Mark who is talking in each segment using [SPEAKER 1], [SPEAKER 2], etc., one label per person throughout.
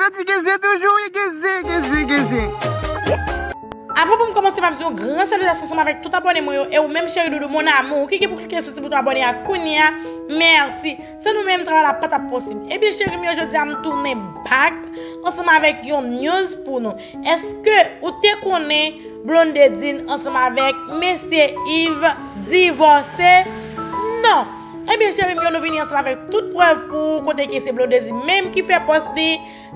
[SPEAKER 1] Santi gen zen toujou wi gen zen gen zen gen zen. Avan pou m kòmanse map di yon gran salutasyon ansanm avèk tout abòne mwen yo e ou menm cheri doudou mon amour ki gen pou klike sou ti bouton abòne a kounya mèsi san nou menm travay la patap posib ebyen cheri m yo jodia m tounen back ansanm avèk yon news pou nou èske ou te konnen Blondedine ansanm avèk mesye Yves divòse non Ebyen cherim yo nou vini ansanm avèk tout prèv pou ou kote ke se Blondedy menm ki fè pòs li,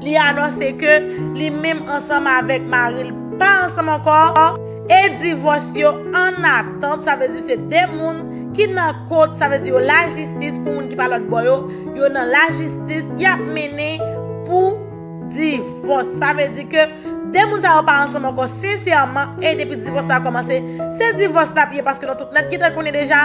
[SPEAKER 1] li anonse ke li menm ansanm avèk maril pa ansanm ankò, e divòs yo an atant sa vle di se 2 moun ki nan kot sa vle di yo lajistis pou moun ki pa lòtbò yo, yo nan lajistis yap mennen pou divòs sa vle di ke 2 moun sa yo pa ansanm ankò sensèman e depi divòs la kòmanse se divòs lap ye paske nou tout nèt gentan konnen deja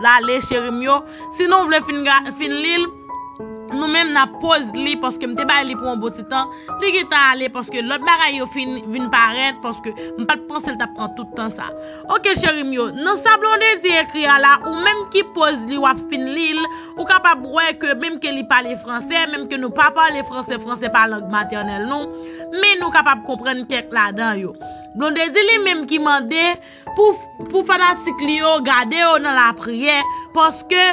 [SPEAKER 1] Lale cheri m yo, si nou vle fin li l, nou menm n ap pose li paske m te bay li pou yon bon ti tan, li gen tan ale paske lòt bagay yo fin vin parèt paske m pa t panse l t ap pran tout tan sa. Ok cheri m yo, nan sa Blondedy ekri a la, ou menm ki pose li w ap fin li l, ou kapab wè ke menm ke li pale franse, menm ke nou pa pale franse, franse pa lang matènèl nou, men nou kapab konprann kèk ladan yo. Blondedy li menm ki mande. Pou fanatik li yo gade yo nan lapriyè paske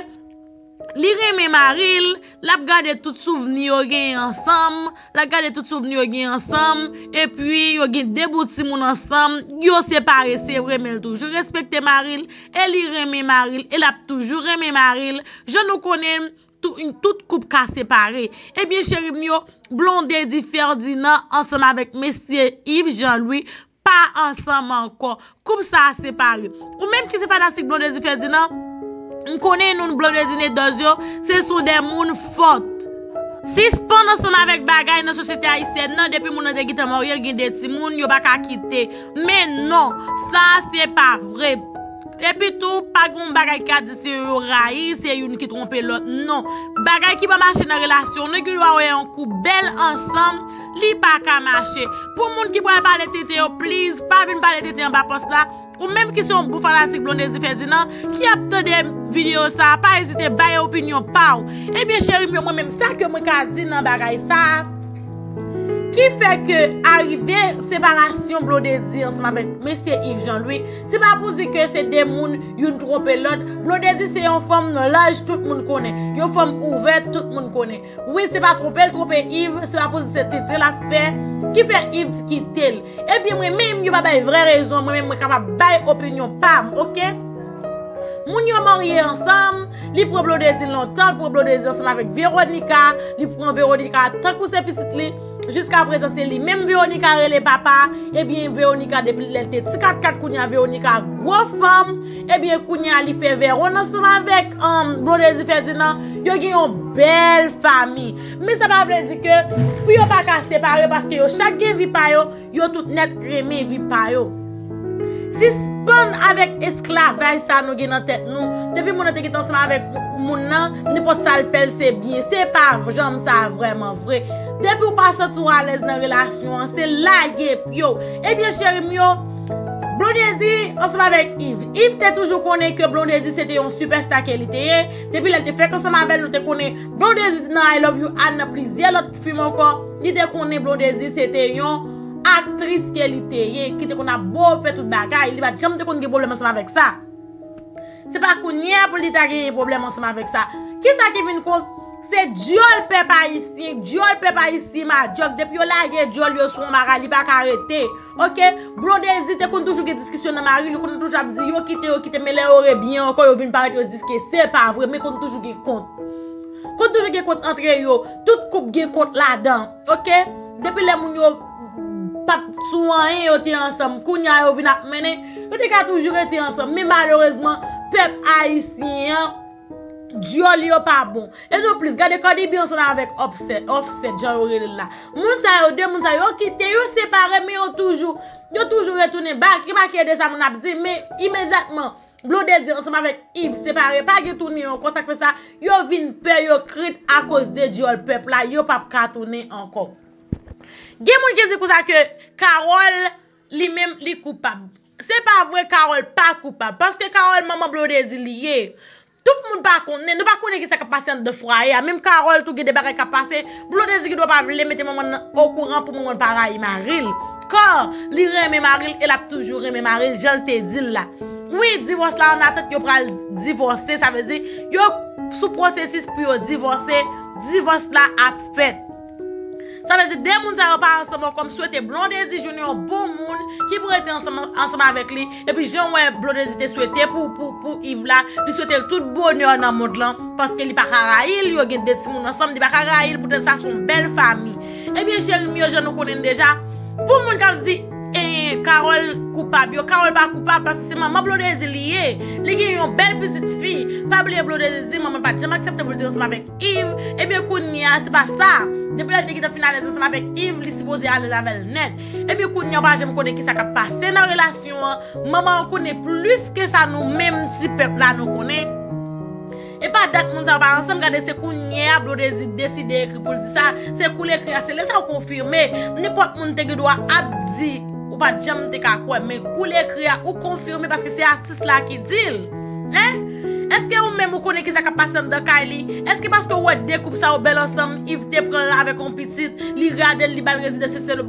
[SPEAKER 1] li renmen mari l, l ap gade tout souvni yo genyen ansanm, l ap gade tout souvni yo genyen ansanm, epi yo gen 2 bout timoun ansanm, yo separe se vre men l toujou respekte mari l, e li renmen mari l, e l ap toujou renmen mari l, jan nou konnen tout koup ka separe. Ebyen cheri m yo, Blondedy Ferdinand ansanm avèk Mesye Yves Jean Louis. Pa ansanm ankò. Koup sa a separe. Ou menm ki se fanatik Blondedy Ferdinand, m konnen nou n Blondedy Nedòs yo, se sou de moun fòt. Sispann ansanm avèk bagay nan sosyete ayisyèn nan, depi moun nan te gentan marye, l gen 2 timoun, yo pa ka kite. Men non! Sa a se pa vre. Epi tou, pa gen yon bagay ki ka di se yo yo rayi, se youn ki twonpe lòt. Non! Bagay ki pa mache nan relasyon, nou gen dwa wè yon koup bèl ansanm, Li paka mache. Pou moun ki pral pale tenten yo please pa vin pale tenten anba post la, ou menm ki se yon gwo fanatik Blondedy Ferdinand ki ap tande video sa pa ezite bay opinyon paw. Ebyen cherim yo mwen menm sa ke mwen ka di nan bagay sa ki fè ke arive separasyon Blondedy ansanm avèk mesye Yves Jean Louis se pa pou di ke se 2 moun youn twonpe lòt, Blondedy se yon fanm laj tout moun konnen, yon fanm ouvèt tout moun konnen. Wi se pa tronpel tronpe Yves se pa poul se tenten lap fè ki fè Yves kitel ebyen mwen menm yo pa bay vrè rezon mwen menm mwen kapab bay opinyon pam ok moun yo marye ansanm li pran blondedy lontan l pran blondedy ansanm avèk Veronica li pran Veronica tankou se pitit li. Jiska prezan se li menm Veronica rele papa ebyen Veronica depi lèl te ti katkat kounya Veronica gwo fanm ebyen kounya li fè Veron ansanm avèk Blondedy Ferdinand yo gen yon bèl fanmi men sa pa vle di ke pou yo paka separe paske yo chak gen vi pa yo Yo tout nèt renmen vi pa yo. Sispann avèk esklavaj sa nou gen nan tèt nou, depi moun nan te gen tan ansanm avèk moun nan, nenpòt sa l fè l se byen. Se pa janm sa vrèman vre. Depi w pa santi w alèz nan relasyon an, se lage pye w. Ebyen cheri m yo, Blondedy ansanm avèk Iv. Iv te toujou konnen ke Blondedy se te yon sipèsta ke li te ye. Depi lè l te fèk ansanm avè l, nou te konnen Blondedy te nan I love you Ann nan plizyè lòt. fim ankò, li te konnen Blondedy se te yon aktris ke li te ye, ki te konn ap bo fè tout bagay, li pat janm te konn gen pwoblèm ansanm avèk sa. Se pa kounye a pou li ta genyen pwoblèm ansanm avèk sa. Kisa ki vin kon, se dyòl pèp ayisyen, dyòl pèp ayisyen madyòk, depi yo lage dyòl yo sou yon bagay li pa ka rete. Ok, Blondedy te konn toujou gen diskisyon nan mari li, li konn toujou ap di yo kite, yo kite men lè yo rebyen ankò yo vin parèt yo di ke se pa vre men konn toujou gen kont. Kont toujou gen kont antre yo, tout koup gen kont ladan ok, depi lè moun yo pat sou anyen yo te ansanm kounya yo vin ap mennen, yo te ka toujou rete ansanm men malerezman pèp ayisyen an dyòl yo pa bon e nou plis gade Cardi B ansanm avèk Offset jan yo rele l la moun sa yo 2 moun sa yo kite yo separe men yo toujou yo toujou retounen back yo pa kè de sa moun ap di men imedyatman Blonde di ansanm avèk Yves separe pa gen tounen yon kont sak fè sa yo vin pè yo krent akoz de dyòl pèp la yo pap ka tounen ankò gen moun ki di konsa ke Carol li menm li koupab se pa vre Carol pa koupab paske Carol manman Blondedy li ye tout moun pa konnen nou pa konnen kisa kap pase anndan fwaye a menm Carol tou gen de bagay kap pase Blondedy ki dwe pa vle mete manman nan okouran pou manman pa rayi mari l Car li renmen mari l e lap toujou renmen mari l jan l te di l la Wi divòs la an atant yo pral divòse sa vle di yo sou pwosesis pou yo divòse divòs la ap fèt Sa vle di 2 moun sa yo pa ansanm ankò m swete Blondedy jwenn yon bon moun ki pou rete ansanm avèk li. Epi jan wè Blondedy te swete pou pou Yves la, li swetel tout bonè nan mond lan paske li paka rayil, yo gen 2 timoun ansanm li paka rayil poutèt sa son bèl fami. Ebyen cherim yo jan nou konnenn deja pou moun kap di Carole koupab yo, Carole pa koupab paske se manman Blondedy li ye, li gen yon bèl pitit fi, pa bliye Blondedy di manman pat janm aksepte poul te ansanm avèk Iv, Ebyen kounye a se pa sa. Depi lè li te gentan fin alèz ansanm avèk Iv, li sipoze alèz avè l nèt. Ebyen kounye a ou pa janm konnen kisa k ap pase nan relasyon an. Manman an konnen plis ke sa nou menm ti pèp la nou konnen. E pa dat moun sa yo pa ansanm, gade se kounye a Blondedy deside ekri pou l di sa, se kou l ekri a se lè sa ou konfime. Nenpòt moun te gen dwa ap di ou pa t janm te ka kwè men kou l ekri a ou konfime paske se atik. Jis la ki di l. Hein? Eske ou menm ou konnen kisa kap pase anndan kay li? Eske paske ou wè 2 koup sa yo bèl ansanm Yves te pran l avèk yon pitit, li rade l li bal rezidans se sèl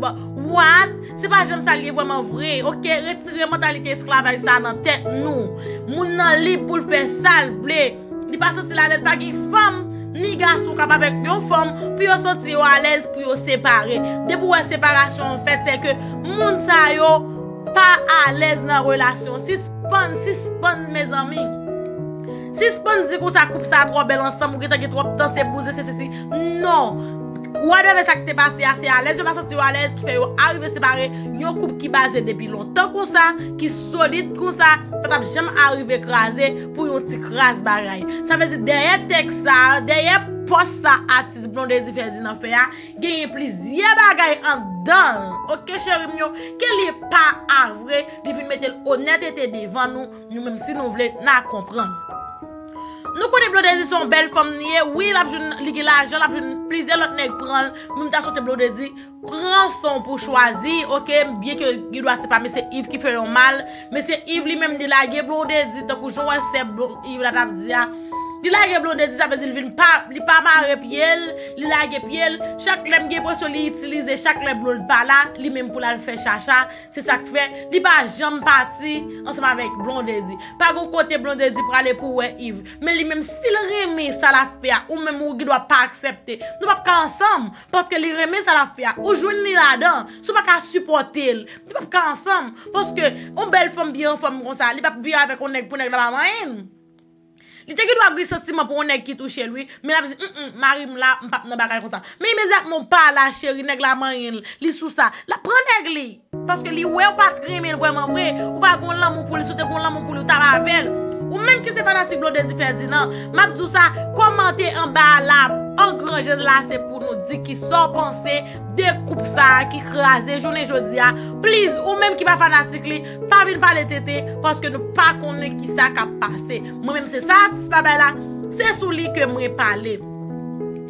[SPEAKER 1] What? Se pa janm sa l ye vrèman vre ok retire mantalite esklavaj sa nan tèt nou. Moun nan lib pou l fè sa l vle. Li pa santi l alèz pa gen fanm ni gason k ap avèk yon fanm pou yo santi yo alèz pou yo separe. Depi w wè separasyon an fèt se ke moun sa yo pa alèz nan relasyon. Sispann, sispann mezanmi. Sispann di konsa koup sa twò bèl ansanm ou gentan gen twòp tan se bouzen se sesi. Non! Whatever sa ki te pase a se alèz yo pa santi yo alèz ki fè yo arive separe yon koup ki baze depi lontan konsa ki. solid konsa pa tap janm arive kraze pou yon ti kras bagay. Sa vle di dèyè tèks sa, dèyè pòs sa atis Blondedy Ferdinand fè a, genyen plizyè bagay anndan l ok cheri m yo, ke li pa a vre, li vin mete l onètete devan nou, nou menm si nou vle na konprann. Nou konnen Blondedy se yon bèl fanm li ye, wi lap jwenn li gen lajan lap jwenn plizyè lòt nèg pran l, men m ta swete Blondedy Pran son pou chwazi ok byen ke gen dwa se pa mesye Yves ki fè yon mal mesye Yves li menm li lage Blondedy tankou jan w wè sè Yves la tap di a li lage Blondedy sa vle di li vin pa li pa mare pye l li lage pye l chak lè m gen enpresyon li itilize chak lè Blonde pa la li menm pou l al fè chacha se sak fè li pa janm pati ansanm avèk Blondedy pa gon kote Blondedy prale pou w wè Yves men li menm si l renmen sa lap fè a ou menm ou gen dwa pa aksepte nou pap ka ansanm Paske li renmen sa lap fè a. Ou jwenn li ladan. Si w pa ka sipòte l. Nou pap ka ansanm. Paske yon bèl fanm byen anfòm konsa. Li pap vin avèk yon nèg pou nèg la pa manyen l. Li te gendwa ap gen santiman pou yon nèg ki touche l wi. Men lap di m m mari m la m pap nan bagay konsa. Men imedyatman w pa la cheri nèg la manyen l. Li sou sa. Lap pran nèg li. Paske li wèw pat renmenl vrèman vre, ou pa gon lanmou pouli, si w te gon lanmou pouli ou tap avèl. Ou menm ki se fanatik Blondedy Ferdinand, map diw sa, kòmante anba a la an gran je n la se pou nou di kisa w panse de koup sa ki kraze jounen jodi a, pliz ou menm ki pa fanatik li, pa vin pale tenten paske nou pa konnen kisa kap pase. Mwen menm se sa atis la bay la, se sou li ke mwen pale.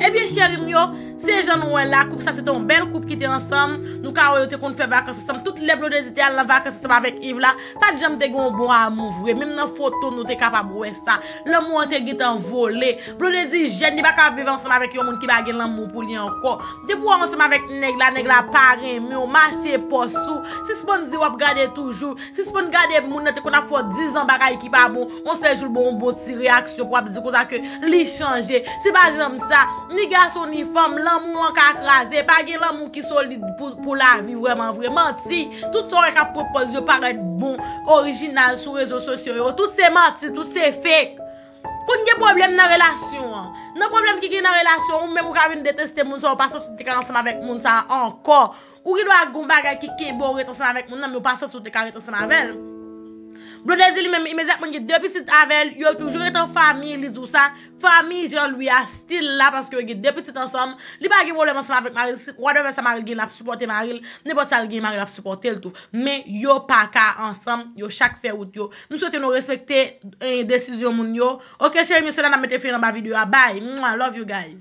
[SPEAKER 1] Ebyen cheri m yo, Se jan nou wè la, koup sa se te yon bèl koup ki te ansanm, nou ka wè yo te konn fè vakans ansanm, tout lè Blondedy te al nan vakans ansanm avèk Yves la, pat janm te gen yon bon amou vre, menm nan foto nou te kapab wè sa, lanmou an te gentan vole, Blondedy jèn li pa ka viv ansanm avèk yon moun ki pa gen lanmou pou li ankò, depi wap ansanm avèk nèg la, nèg la pa renmenw, mache pòs ou, sispann di wap gade toujou, Sispann gade moun nan te konn ap fè w 10 ans bagay ki pa bon, on sèl jou l ba w on bon ti reyaksyon pou ap di konsa ke li chanje. Se pa janm sa, ni gason ni fanm, lanmou an ka kraze, pa gen lanmou ki solid pou lavi vrèman vre. Manti, tout sa w wè k ap pran pòz yo parèt bon, orijinal sou rezo sosyo yo, tout se manti, tout se fake. Konn gen pwoblèm nan relasyon an. Nan pwoblèm ki gen nan relasyon an, ou menm ou ka vin deteste moun sa, ou pa santi w te ka ansanm avèk moun sa ankò. Ou gen dwa gen yon bagay ki kenbe w ret ansanm avèk moun nan, men ou pa sanse ou te ka ret ansanm avè l. Blonde di li menm, imedyatman li gen 2 pitit avè l, yo toujou ret an fanmi, li di w sa, fanmi Jean Louis a stil la paske yo gen 2 pitit ansanm, li pa gen pwoblèm ansanm avèk mari l, si whatever sa mari l gen l ap sipòte mari l, nenpòt sa l gen mari l ap sipòte l tou. Men, yo pa ka ansanm, yo chak fè wout yo. M swete nou respekte desizyon moun yo. Ok cheri m yo se la n ap mete fen anba videyo a, bye! Mwah! Love you guys.